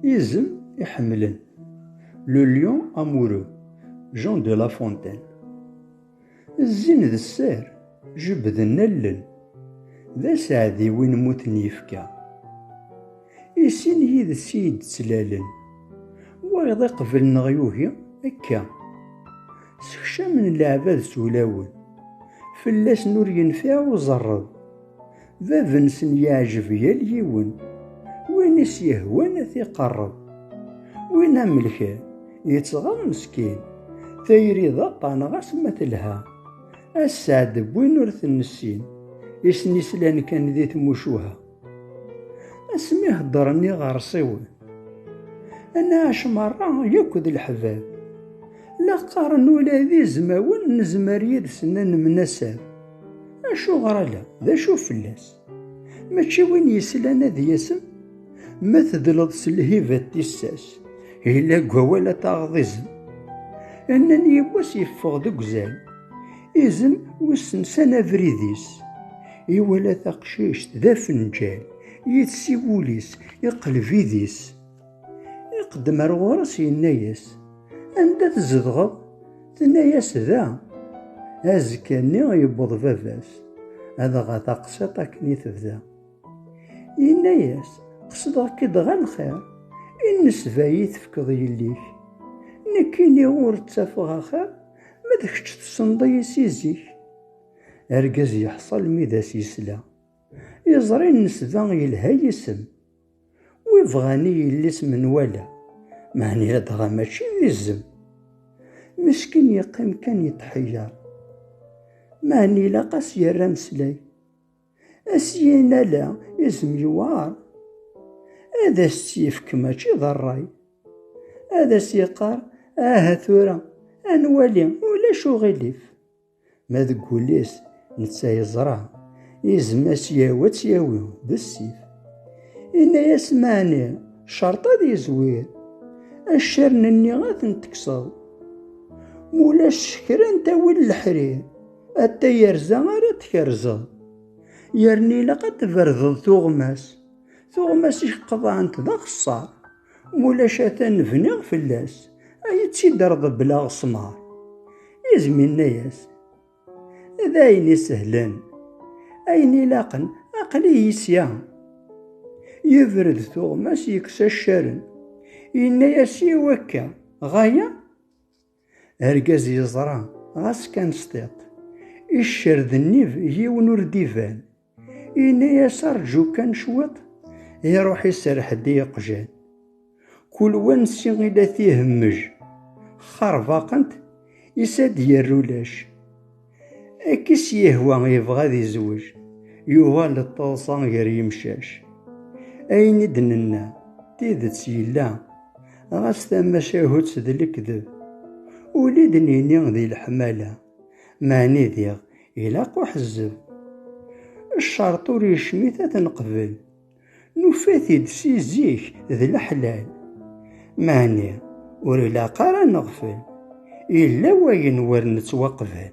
Izem iḥemmlen Le lion amoureux Jean de La Fontaine Zzin d sser, jebden allen D aseɛdi win mmuten yefka I sin yid-s i yi-d-ttlalen Wayeḍ iqbel neɣ yugi akka Sekcamen leɛbad s ulawen Fell-asen ur yenfiɛ uẓerreḍ Bab-nsen yeɛjeb yal yiwen, win i s-yehwan ad t-iqerreb. Win amelkar, yettɣar meskin, tayri d aṭṭan ɣas ma telha. Asseɛd n win ur t-nessin, isem-is lan kan di tmucuha. Asmi heddren iɣersiwen, ad nɛac merra yakk d leḥbab. La qqaren ula d izmawen nezmer yid-sen ad nemnasab. Acuɣer ala? D acu fell-as? Mačči win yeslan ad yasem? Ma tedleḍ s lhiba d tissas, yella deg wawal ad taɣeḍ izem. Nnan yiwwas yeffeɣ deg uzal, izem wissen san abrid-is. Iwala taqcict d afenǧal, yid-s i wul-is, iqleb idis. Iqeddem ar ɣur-s yenna-yas, Anda tzedɣeḍ? Tenna-yas, Da. Azekka-nni yewweḍ baba-s, adɣa taqsiṭ akken i tebda. Yenna-yas, Qesdeɣ-k-id ɣer lxir, i nnesba i tefkeḍ yelli-k. Nekkini ur ttafeɣ axir, ma d kečč tessneḍ-iyi si zik. Argaz yeḥṣel mi d as-yesla, yeẓra i nnesba yelha yisem. Wi bɣan i yelli-s menwala, meɛni ladɣa mačči d izem. Meskin yeqqim kan yetḥeyyeṛ, meɛni ilaq-as yerr ameslay. A syin ala izem yewɛeṛ, ad as-tt-yefk mačči d ṛṛay. Ad as-yeqqar, Aha tura, ad nwali, ulac uɣilif. Ma deg wul-is netta yeẓra, izem ad tt-yawi ad tt-yawi d ssif. Inna-yas maɛni cerṭ ad yezwir, accaren-nni ad ten-tekseḍ. Mulac kra n tawil leḥrir, ad tayerza ara tkerzeḍ. Yerna ilaq ad tberdeḍ tuɣmas, tuɣmas i qeḍɛent d axeṣṣar. Mulac atan bniɣ fell-as, ay tt-id-reḍbleɣ ssmar. Izem inna-yas, d ayen isehlen, ayen ilaqen, aql-iyi sya. Yebred tuɣmas yekkes accaren, yenna-yas i wakka, ɣaya? Argaz yeẓra, ɣas kan s tiṭ. Iccer d nnib, yiwen ur d-iban. Yenna-yas arǧu kan cwiṭ, iruḥ iserreḥ-d i yeqjan. Kul wa nsi i la t-ihemmej. Xxarbaqent, is ad d-yerr ulac. Akkis yehwa yebɣa ad izweǧ yuɣal d taḍsa gar yimcac. Ayen i d-nenna d tidet yella, ɣas tamacahut d lekdeb. Ul i d-nini di leḥmala, meɛni diɣ ilaq uḥezzeb. Ccerṭ ur yecmit ad t-neqbel, Nufa-t-id si zik d leḥlal. Meɛni ur ilaq ara ad neɣfel, yella wayen wer nettwaqbal.